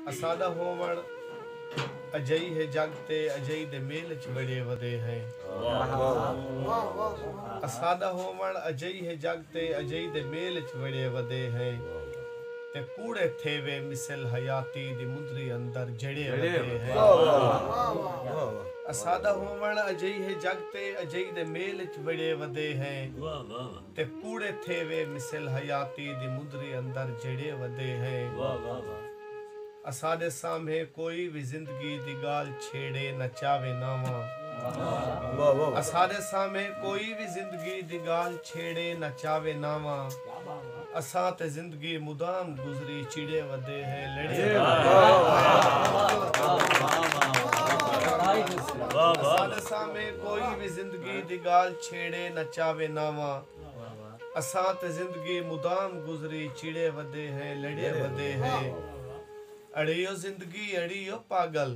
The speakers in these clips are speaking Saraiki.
اساݙا ہووݨ اجئی ہے جڳ تے اجئی دے میل اچ ٻݨے ودے ہیں۔ اساݙا ہووݨ اجئی ہے جڳ تے اجئی دے میل اچ ٻݨے ودے ہیں تے کوڑے تھیوے مثل حیاتی دی مندری اندر جڑے ودے ہیں۔ اساݙا ہووݨ اجئی ہے جڳ تے اجئی دے میل اچ ٻݨے ودے ہیں۔ تے کوڑے تھیوے مثل حیاتی دی مدری اندر جھیڑے ودے ہیں۔ اساڈے سامھے کوئی وی زندگی دی گالھ چھیڑے نہ چاوے ناواں۔ اساڈے سامھے کوئی وی زندگی دی گالھ چھیڑے نہ چاوے ناواں۔ اساں تے زندگی۔ گی مدام گزری چیڑے ودے ہے لڑے اساڈے سامے کوئی وی زندگی دی گال چھیڑے نہ چاوے ناواں اساں تے زندگی مدام گزری چیڑے ودے ہے لڑے ودے ہے اڑیو زندگی اڑیو پاگل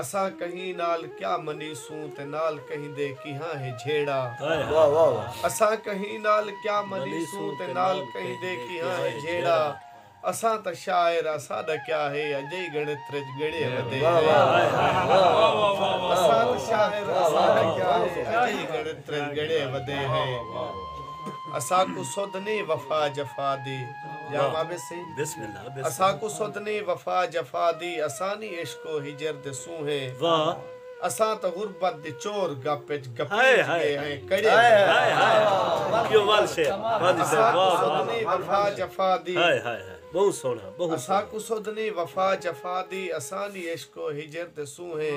اساں کہیں نال کیا منیسوں تے نال کہیں دے کیہاں ہے جھیڑا۔ اساں کہیں نال کیا منیسوں تے نال کہیں دے کیہاں ہے جھیڑا۔ اساں تاں شاعر آں ساڈا کیا ہے اجئی گنتر اچ گنڑے ودھیڑا۔ اساں تاں شاعر آں ساڈا کیا ہے اجئی گنتر اچ گنڑے ودھیڑا۔ اساکوں سدھ نئیں وفا جفا دی۔ جاواں ویسی اساکوں سدھ نی وفا جفا دی اساں نی عشق و ہجر دے سونہے اساں تاں غربت دی چور گپ وچ گھپیج گئے ہیں کڑے اساکوں سدھ نی وفا جفا دی اساکوں سدھ نی وفا جفا دی اساں نی عشق و ہجر دے سونہے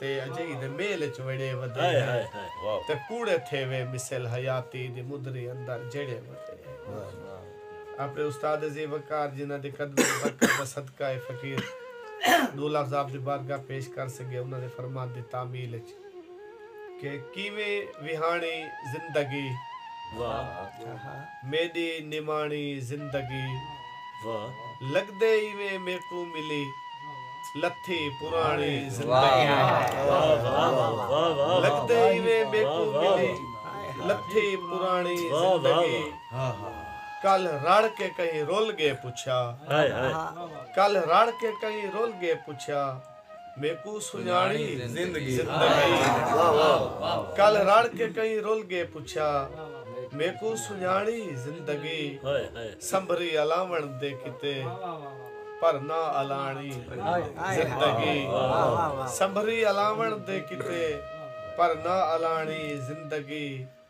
تے اجئی دے میل اچ وڑے ودے ہیں تے کوڑے تھیوے مثل حیاتی دی مدری اندر جڑے ودے ہیں اپنے استاد عظیم وقار جنہاں دے قدمیں دی برکت دا صدقہ اے فقیر دو لفظ آپ دی بارگاہ پیش کر سگے انہاں دے فرمان دی تعمیل اچ کہ کیویں وہاݨی زندگی میݙی نماݨی زندگی لڳدے ایویں میکوں ملی لتھی پراݨی زندگی لڳدے ایویں میکوں ملی لتھی پراݨی زندگی کل رڑھ کے کہیں رل ڳے پچھیا کل رڑھ کے کہیں رل ڳے پچھیا میکوں سنڄاݨی زندگی کل رڑ کے کئیں رل ڳے پچھیا میکوں سنڄاݨی زندگی سنبھری الاوݨ دے کیتے پر نہ الاݨی زندگی سنبھری الاوݨ دے کیتے پر نہ الاݨی زندگی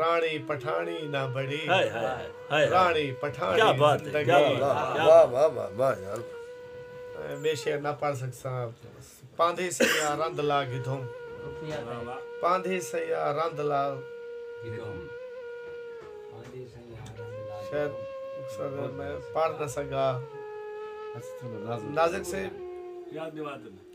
راݨی پٹھاݨی نہ بݨی راݨی پٹھاݨی زندگی۔ میں شعر نہ پڑھ سکساں پاندھی سئیاں رند لا گھدھوم پاندھی سئیاں رند لا گھدھوم شاید میں پڑھ نہ سگا نازک سے۔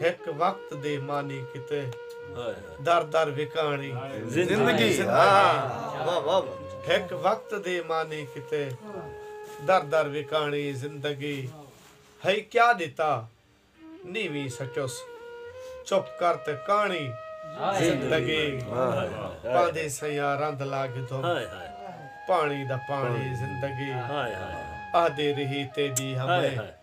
ہک وقت دے مانی کیتے در در وکاݨی زندگی ہک وقت دے مانی کیتے در در وکاݨی زندگی ہئی کیا ݙتا نیویں سچس چپ کر تے کاݨی زندگی پاندی سیاں رند لا گھدم پاݨی دا پاݨی زندگی آہدی ریہی تیݙی ہمیں